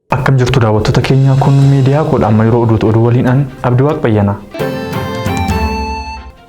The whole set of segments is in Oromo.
Akkam jirtu daawwattoota keenya kun miidiyaa koodha amma yeroo oduutu oduu waliin an Abdi Waaq Bayyana.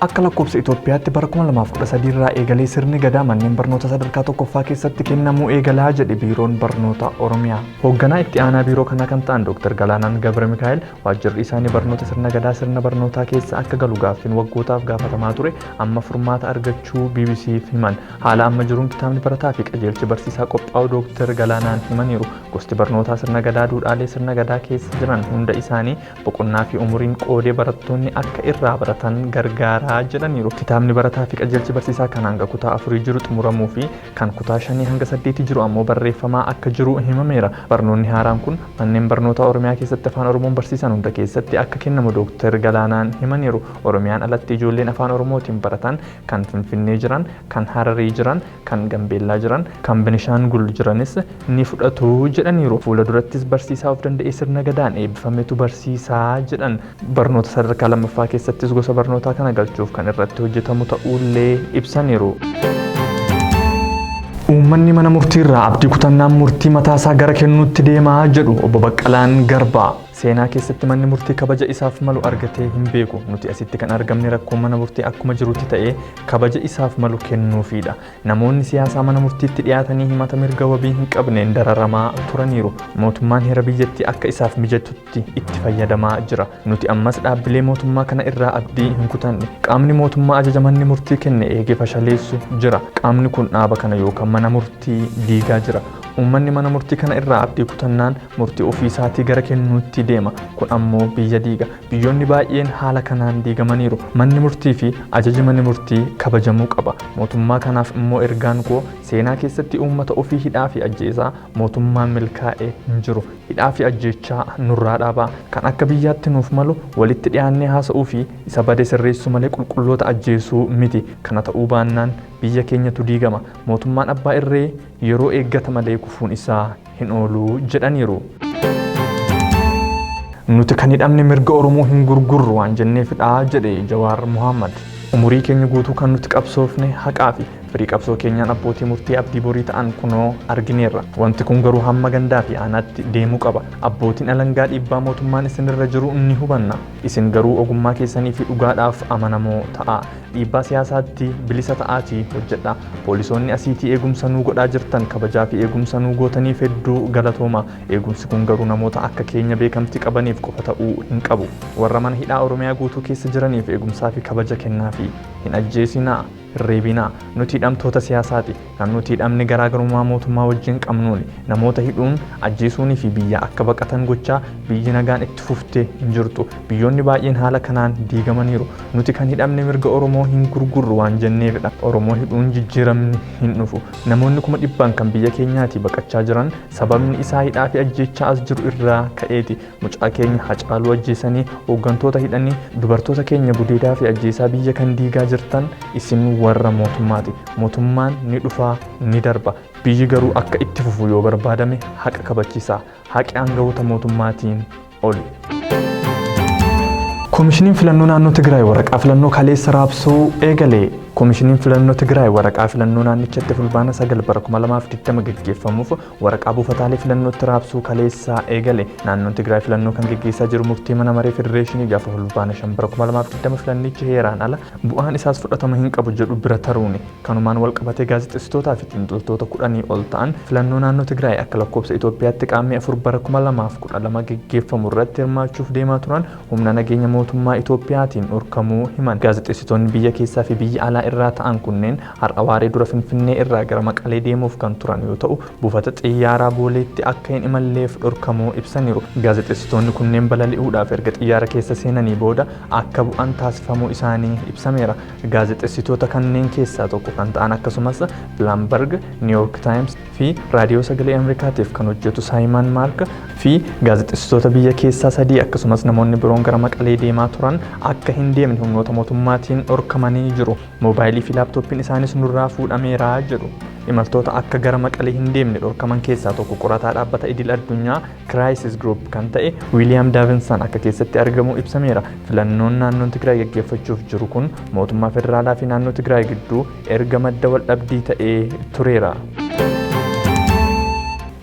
Akka lakkoofsa Itoophiyaatti bara 2013 irraa eegalee sirni gadaa manneen barnoota sadarkaa tokkoffaa keessatti kennamuu eegalaa jedhe biiroon barnoota Oromiyaa. Hoogganaa itti aanaa biiroo kanaa kan ta'an Dr. Galaanaan Gabra Mikaa'el waajjirri isaanii barnoota sirna gadaa sirna barnootaa keessa akka galu gaaffiin waggootaaf gaafatamaa ture amma furmaata argachuu BBC'f himan. Haala amma jiruun kitaabni barataa fi qajeelchi barsiisaa qophaa'u Dooktar Galaanaan himaniiru. Gosti barnootaa sirna gadaa duudhaalee sirna gadaa keessa jiran hunda isaanii boqonnaa fi umuriin qoodee barattoonni akka irraa baratan gargaaraa jedhaniiru. Kitaabni barataa fi qajeelchi barsiisaa kan hanga kutaa afurii jiru xumuramuu fi kan kutaa shanii hanga saddeetii jiru ammoo barreeffamaa akka jiru himameera. Barnoonni haaraan kun manneen barnootaa Oromiyaa keessatti Afaan Oromoon barsiisan hunda keessatti akka kennamu Dooktar Galaanaan himaniiru. Oromiyaan alatti ijoolleen Afaan Oromootiin baratan kan Finfinnee jiran, kan Hararii jiran, kan Gambeellaa jiran, kan Benishaangul jiranis ni fudhatu jedhaniiru. Fuula durattis barsiisaa of danda'ee sirna Gadaan eebbifametu barsiisa jedhan. Barnoota sadarkaa lammaffaa keessattis gosa barnootaa kana galchuuf kan irratti hojjetamu ta'uullee ibsaniiru. Uummanni mana murtiirraa abdii kutannaan murtii mataasaa gara kennuutti deema jedhu Obbo Baqqalaan Garbaa. Seenaa keessatti manni murtii kabaja isaaf malu argatee hin beeku. Nuti asitti kan argamne rakkoon mana murtii akkuma jirutti ta'ee kabaja isaaf malu kennuufiidha. Namoonni siyaasaa mana murtiitti dhiyaatanii himata mirga wabii hin qabneen dararamaa turaniiru. Mootummaan heera biyyattii akka isaaf mijatutti itti fayyadamaa jira. Nuti ammas dhaabbilee mootummaa kana irraa abdii hin kutanne. Qaamni mootummaa ajaja manni murtii kenne eegee fashaleessu jira. Qaamni kun dhaaba kana yookaan mana murtii diigaa jira. Uummanni mana murtii kana irraa abdii kutannaan murtii ofii isaatii gara kennuutti deema. Kun ammoo biyya diiga. Biyyoonni baay'een haala kanaan diigamaniiru. Manni murtii fi ajaji mani murtii kabajamuu qaba. Mootummaa kanaaf immoo ergaan koo seenaa keessatti uummata ofii hidhaa fi ajjeesaa mootummaan milkaa'e hin jiru. Hidhaa fi ajjeechaa nurraa dhaabaa. Kan akka biyyaatti nuuf malu walitti dhiyaannee haasa'uu fi isa bade sirreessuu malee qulqulloota ajjeesuu miti. Kana ta'uu baannaan biyya keenyatu diigama. Mootummaan abbaa irree yeroo eeggata malee kufuun isaa hin oolu jedhaniiru. Nuti kan hidhamne mirga Oromoo hin gurgurru waan jenneefidha jedhe Jawaar Muhammad. Umurii keenya guutuu kan nuti qabsoofne haqaa fi firii qabsoo keenyaan abbootii murtii abdii borii ta'an kunoo argineerra. Wanti kun garuu hamma gandaa fi aanaatti deemuu qaba. Abbootiin alangaa dhiibbaa mootummaan isinirra jiru ni hubanna. Isin garuu ogummaa keessanii fi dhugaadhaaf amanamoo ta'a. Dhiibbaa siyaasaatti bilisa ta'aatii hojjedhaa. Poolisoonni asiitii eegumsa nuu godhaa jirtan kabajaa fi eegumsa nuu gootaniif hedduu galatoomaa. Eegumsi kun garuu namoota akka keenya beekamti qabaniif qofa ta'uu hin qabu. Warra mana hidhaa Oromiyaa guutuu keessa jiraniif eegumsaa fi kabaja kennaafii. Hin ajjeesinaa, hin reebinaa. Nuti hidhamtoota siyaasaati. Kan nuti hidhamne garaagarummaa mootummaa wajjin qabnuuni. Namoota hidhuun, ajjeesuunii fi biyyaa akka baqatan gochaa biyyi nagaan itti fufte hin jirtu. Biyyoonni baay'een haala kanaan diigamaniiru. Nuti kan hidhamne mirga Oromoo hin gurgurru waan jenneefidha. Oromoo hidhuun jijjiiramni hin dhufu. Namoonni kuma dhibbaan kan biyya keenyaatii baqachaa jiran sababni isaa hidhaa fi ajjeechaa as jiru irraa ka'eeti. Mucaa keenya Hacaaluu ajjeesanii hooggantoota hidhanii dubartoota keenya gudeedaa fi ajjeesaa biyya kan diigaa jirtan isin warra mootummaati. Mootummaan ni dhufaa ni darba. Biyyi garuu akka itti fufu yoo barbaadame haqa kabachiisaa. Haqi aangawoota mootummaatiin oli. Komishiniin filannoo naannoo Tigraay waraqaa filannoo kaleessa raabsuu eegale. Komishiniin filannoo Tigraay waraqaa filannoo naannichatti fulbaana 9 bara 2020 gaggeeffamuuf Waraqaa buufataalee filannootti raabsuu kaleessaa eegale. Naannoon Tigraay filannoo kan geggeessaa jiru murtii mana maree federeeshinii gaafa Fulbaana 5 bara 2020 filannichi heeraan ala bu'aan isaas fudhatama hin qabu jedhu bira taruuni. Kanumaan wal qabatee gaazexessitootaa fi xiinxaltoota kudhanii ol ta'an filannoo naannoo Tigraay akka lakkoobsa Itoophiyaatti Qaammee 4 bara 2012 geggeeffamu irratti hirmaachuuf deemaa turan humna nageenya mootummaa Itoophiyaatiin dhorkamuu himan. Gaazexessitoonni biyya keessaa fi biyya alaa irraa ta'an kunneen Har'a waaree dura Finfinnee irraa gara Maqalee deemuuf kan turan yoo ta'u, buufata xiyyaaraa Booleetti akka hin imalleef dhorkamuu ibsaniiru. Gaazexeessitoonni kunneen balali'uudhaaf erga xiyyaara keessa seenanii booda akka bu'an taasifamuu isaanii ibsameera. Gaazexessitoota kanneen keessaa tokko kan ta'an akkasumas Bloomberg, New York Times, fi Raadiyoo Sagalee Amerikaatiif kan hojjetu Saayimaan Maark, fi gaazexessitoota biyya keessaa sadii akkasumas namoonni biroon gara Maqalee deemaa turan akka hin deemne humnoota mootummaatiin dhorkamanii jiru. Moobaayilii fi laaptooppiin isaanis nurraa fuudhameera jedhu. Imaltoota akka gara Maqalee hin deemne dhorkaman keessaa tokko qorataa dhaabbata idil addunyaa Crisis Group kan ta'e Wiiliyaam Daavinsan akka keessatti argamu ibsameera. Filannoon naannoon Tigraay gaggeeffachuuf jiru kun mootummaa federaalaa fi naannoo Tigraay gidduu erga madda waldhabdii ta'ee tureera.